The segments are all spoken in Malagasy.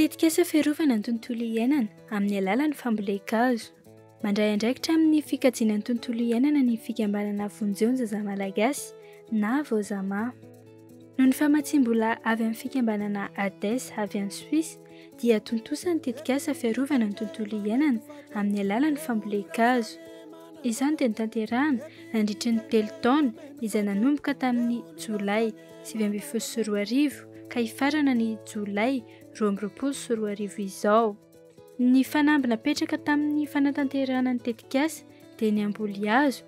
Tetikasa fiarovana ny tontolo iainana amin'ny alalan'ny fambolen-kazo. Mandray andraikitra amin'ny fikajiana ny tontolo iainana ny fikambanana Vonjeo ny zaza Malagasy na Vozama. Noho ny famatsiam-bola avy amin'ny fikambanana ADES avy any Suisse dia tontosa ny tetikasa fiarovana ny tontolo iainana amin'ny alalan'ny fambolen-kazo. Izany dia notanterahina nandritry ny telo taona izay nanomboka tamin'ny Jolay sivy ambin'ny folo sy roa arivo ka hifarana ny Jolay roa amby roapolo sy roa arivo izao. Ny fanamby napetraka tamin'ny fanatanterahana ny tetikasa dia ny hamboly hazo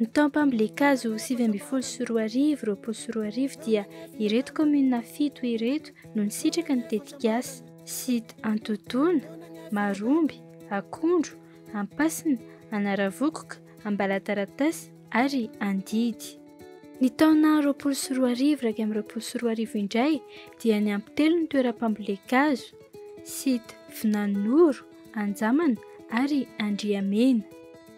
Ny taom-pambolen-kazo sivy ambin'ny folo sy roa arivo, roapolo sy roa arivo dia ireto kaominina fito ireto no nisitraka ny tetikasa, Site Antotoana, Maromby, Akondro, Ampasina, Anaravokoka, Ambalataratasy ary Andidy. Ny taona roapolo sy roa arivo iraika amby roapolo sy roa arivo indray dia niampy telo ny toeram-pambolen-kazo, Site Vinanonoro, Anjamana ary Andriamena.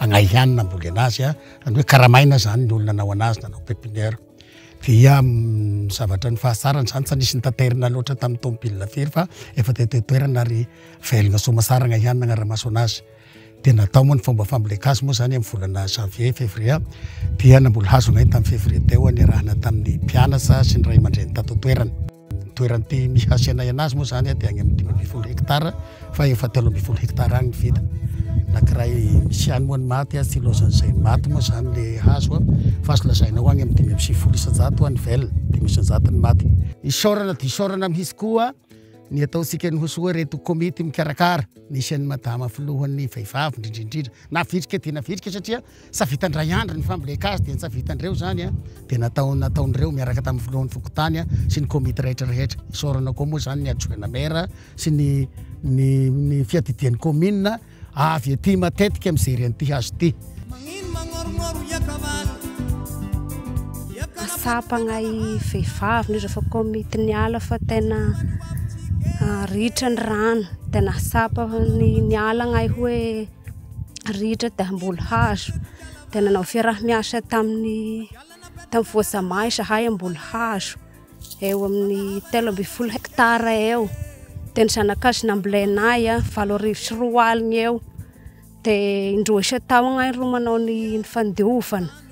Agnahy ihany namboly anazy a, zany hoe karamaina zany ny olona nanao anazy nanao pepinière. Dia ny zavatra ny fahatsarany zany tsy nisy nitaterina loatra tamin'ny tômôbila firy fa efa teto an-toerana ary velona soamantsara agnahy ihany nagnara-maso anazy. Dia natao moa ny fomba famboleka azy moa zany amin'ny volana janvier, février dia namboly hazo agnahy tamin'ny février teo niarahana tamin'ny mpianatra sy ny ray aman-dreny tato an-toerana. Ny toeran'ny PMI hasenaina azy moa izany dia any amin'ny dimy ambin'ny folo hekitara fa efa telo ambin'ny folo hekitara any ny vita. Nakiray misy ihany moa ny maty, tsy ilaozan'izay maty moa izany le hazo fa azo lazaina ho any amin'ny dimy amby sivifolo isan-jato ny vel, dimy isan-jato ny maty. Isaorana dia isaorana mihitsy koa ny ataontsika ny ho soa ireto komity mikarakara, nisy an'i Madama filohan'ny vehivavy indrindra indrindra, navitrika dia navitrika satria. Sa vitan'i Ndray Andry ny fambolen-kazo dia sa vitan'ireo izany dia natao nataon'ireo miaraka tamin'ny filohan'ny fokontany sy ny komity rehetra rehetra. Isaorana koa moa izany ny adjoint maire sy ny ny ny fiadidian'ny commune avy ety matetika mijery an'ity hazo ity. Tsapagna i vehivavy ny rehefa komity ny ala fa tena ritra ny rano tena tsapa ny ny ala ny hoe rihitra dia Ambolohazo dia nanao fiaraha miasa tamin'ny tamin'ny Voasamay izahay Ambolohazo eo amin'ny telo ambin'ny folo hekitara eo dia ny zanakazo nambolenay a valo arivo sy roa alina eo dia indroa isan-taona izahay no manao ny fandiovana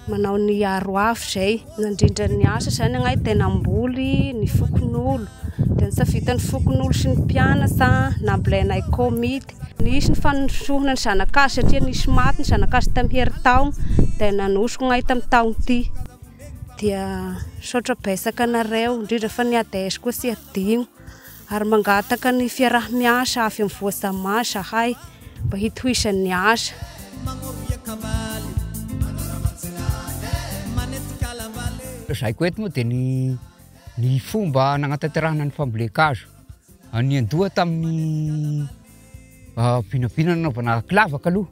manao ny aroavy izay nandrindra ny asa izany angah dia namboly ny fokonolona dia ny savitan'ny fokonolona sy ny mpianatra nambolenay komity nisy ny fandrosoana ny zanak'azy satria nisy maty ny zanak'azy tamin'ny heritaona dia nanosiko angah tamin'ny taona ity dia misaotra betsaka anareo indrindra fa ny adsko tsy adino ary mangataka ny fiaraha-miasa avy amin'ny Voasamà izahay mba hitohizany ny asa. Lazaiko eto moa dia ny ny fomba nagnatanterahana ny fambolen-kazo. Niandoha tamin'ny vinavina nanaovana kilavaka aloha.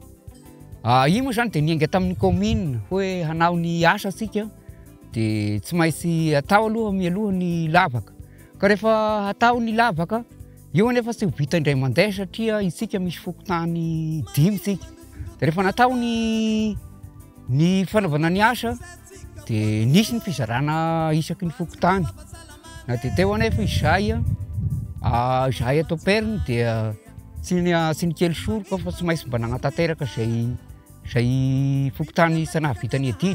Io moa izany dia niainga tamin'ny kaominina hoe hanao ny asa isika dia tsy maintsy atao aloha mialoha ny lavaka. Ka rehefa hatao ny lavaka, io anefa tsy ho vita indray mandeha satria isika misy fokontany dimy isika. Dia rehefa natao ny ny fanaovana ny asa dia nisy ny fizarana isaky ny fokontany. Na dia teo anefa izahay a, izahay ato am-periny dia tsy ny a- tsy nikely soroka fa tsy maintsy mba nanatanteraka izay izay fokontany isa-nahavita ny adidy.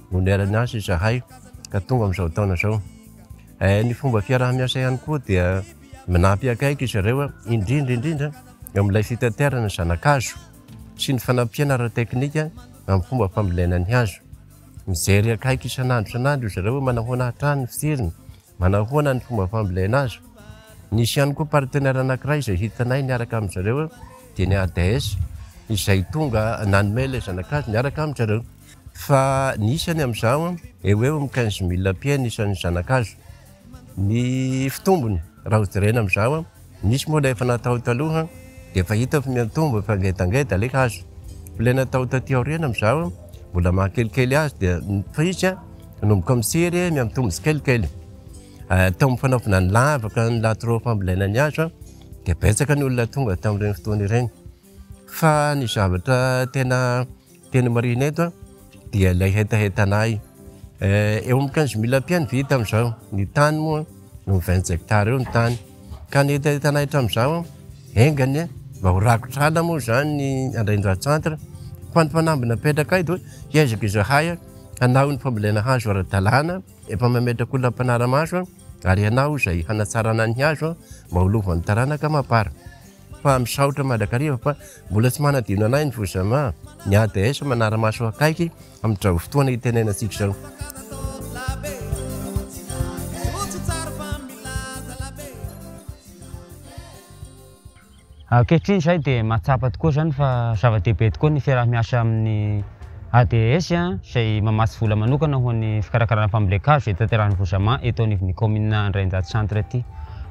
no niarany azy izahay ka tonga amin'izao taona izao. Eh, ny fomba fiaraha-miasa ihany koa dia manampy akaiky izy ireo, indrindra indrindra eo amin'ilay fitaterana zanakazo sy ny fanampiana ara-teknika amin'ny fomba fambolena ny hazo. Mijery akaiky isan'andro isan'andro izy ireo hoe manahoana hatrany ny fijeriny, manahoana ny fomba fambolena azy. Nisy ihany koa partenaire anankiray izay hitanay niaraka amin-dry zareo dia ny ADS izay tonga nanome ilay zanakazo niaraka amin-dry zareo. fa ny isany amin'izao eo ho eo amin'ny quinze mille pieds ny isan'ny zana-kazo. Ny fitombony raha ho jerena amin'izao, nisy moa ilay efa natao taloha dia efa hita fa miantombo efa ngedangeda ilay hazo. Ilay natao taty aoriana amin'izao mbola mahakelikely azy dia fa izy manomboka mitsiry miantombo tsikelikely. Tao amin'ny fanaovana ny lavaka ny latroa fambolena ny hazo dia betsaka ny olona tonga tamin'ireny fotoana ireny. Fa ny zavatra tena Tena marina eto dia ilay hetahetana ahy. Eh, eo amin'ny quinze mille pieds ny vita amin'izao. Ny tany moa no vingt hectares eo ny tany. Ka ny hetahetana ahy hatramin'izao, enga anie mba ho rakotra ala moa izany ny Andraindra Centre. Fa ny fanamby napetraka ahy dia hoe hiezaka izahay hanao ny fambolena hazo ara-dalàna, efa mametraka olona mpanara-maso aho, ary ianao izay hanatsarana ny hazo mba ho lovan'ny taranaka mapar. fa misaotra mandrakariva fa mbola tsy manadino anay ny Fozama, ny ADS manara-maso akaiky amin'izao fotoana itenenantsika izao. Ankehitriny izahay dia mahatsapa tokoa izany fa zava-dehibe tokoa ny fiaraha-miasa amin'ny. ADS, izay mamatsy vola manokana ho an'ny fikarakarana fambolen-kazo hitaterahan'ny Vosama eto anivon'ny kaominina Andrainjato Centre ity.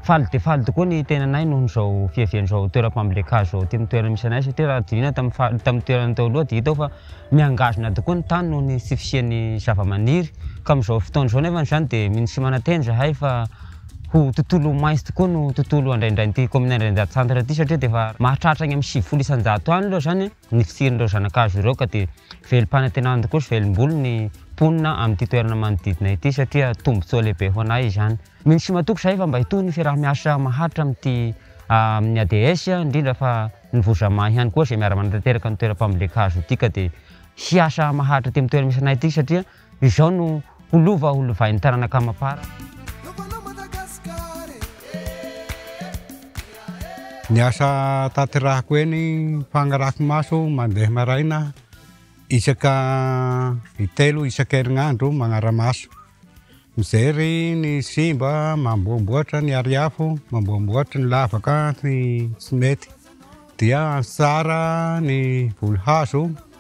Faly dia faly tokoa ny tenanay noho izao fiaviany izao toeram-pambolen-kazo izao aty amin'ny toerana misy anay satria raha diniana tamin'ny faritry tamin'ny toerana teo aloha dia hita eo fa mihangazona tokoa ny tany noho ny tsy fisian'ny zava-maniry ka amin'izao fotoana izao nefany izany dia mino sy manantena izahay fa ho tontolo maitso tokoa no tontolo andraindrain'ity kaominina Andrainjato Centre ity satria dia efa mahatratra any amin'ny sivifolo isan-jato any aloha izany an! ny fitsirin'ireo zanakazo ireo ka dia velom-panantenana tokoa sy velom-bolo ny mponina amin'ity toerana manodidina ity satria tombontsoa lehibe ho anay izany. Mino sy matoky izahay fa mba hitohy ny fiaraha-miasa maharitra amin'ity amin'ny ADS indrindra fa ny Vozama ihany koa izay miara-manatanteraka ny toeram-pambolen-kazo ity ka dia hiasa maharitra aty amin'ny toerana misy anay ity satria Izao no ho lova ho lovain'ny taranaka amam-para. Ny asa tanterahako eny Fagnarafimaso mandeha maraina isaka intelo isan-kerinandro magnara-maso. Mijery ny simba, mamboamboatra ny ariafo, mamboamboatra ny lavaka sy tsy mety. Dia an-tsara ny voly hazo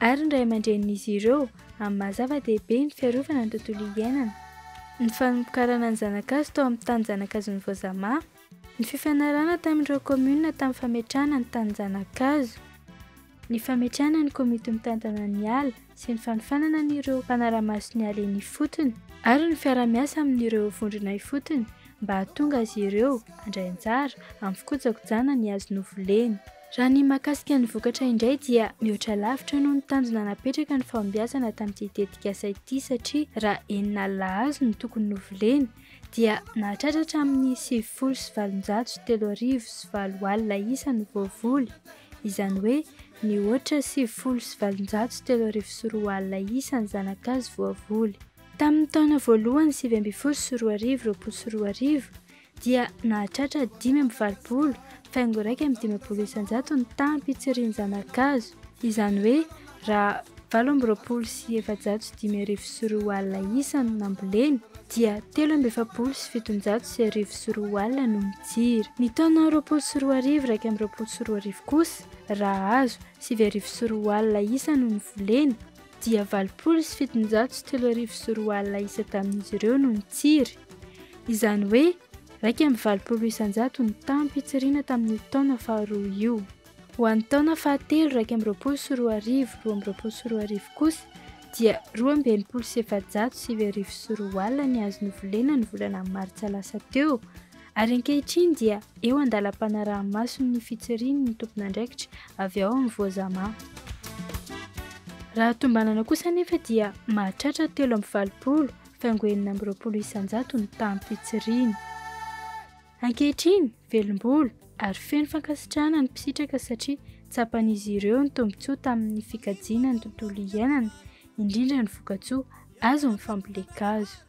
ary ny ray aman-drenin'izy ireo amin'ny maha zava-dehibe ny fiarovana ny tontolo iainana, ny fanombokarana ny zanak'azy tao amin'ny tanin-janakazon'ny Voazamà, ny fifanarahana tamin'ireo kaominina tamin'ny fametrahana ny tanin-janakazo, ny fametrahana ny komity mitantana ny ala sy ny fanofanana an'ireo mpanara-maso ny ala eny ifotony, ary ny fiara-miasa amin'ireo vondrona ifotony mba hahatonga azy ireo handray anjara amin'ny fikojakojana ny hazo novoleny. Raha ny mahakasika ny vokatra indray dia mihoatra lavitra noho ny tanjona napetraka ny fahombiazana tamin'ity tetikasa ity satria raha enina alina hazo no tokony novolena dia nahatratra hatramin'ny sivifolo sy valonjato sy telo arivo sy valo alina isa no voavoly, izany hoe nihoatra sivifolo sy valonjato sy telo arivo sy roa alina isa ny zana-kazo voavoly. Tamin'ny taona voalohany sivy ambin'ny folo sy roa arivo, roapolo sy roa arivo, dia nahatratra dimy amby valopolo faingo iraika amby dimampolo isanjato ny taham-pitsirian'ny zana-kazo, izany hoe raha valo amby roapolo sy efajato sy dimy arivo sy roa alina isa no nambolena, dia telo amby efapolo sy fitonjato sy arivo sy roa alina no nitsiry. Ny taona roapolo sy roa arivo iraika amby roapolo sy roa arivo kosa, raha azo, sivy arivo sy roa alina isa no nivolena, dia valopolo sy fitonjato sy telo arivo sy roa alina isa tamin'izy ireo no nitsiry. Izany hoe iraika amby valopolo isanjato ny tampo itsiriana tamin'io taona faharoa io. Ho an'ny taona fahatelo iraika amby roapolo sy roa arivo roa amby roapolo sy roa arivo kosa dia roa amby enimpolo sy efajato sivy arivo sy roa alina ny azo novolena ny volana martsa lasa teo Ary ankehitriny dia eo an-dalam-panaraha-maso ny fitsiriany ny tompon'andraikitra avy ao amin'ny Voazama. Raha tombanana kosa anefa dia mahatratra telo amby valopolo faingo enina amby roapolo isan-jato ny taham-pitsiriany. Ankehitriny, velom-bolo ary feno fankasitrahana ny mpisitraka satria tsapan'izy ireo ny tombontsoa tamin'ny fikajiana ny tontolo iainana, indrindra ny vokatsoa azon'ny fambolen-kazo.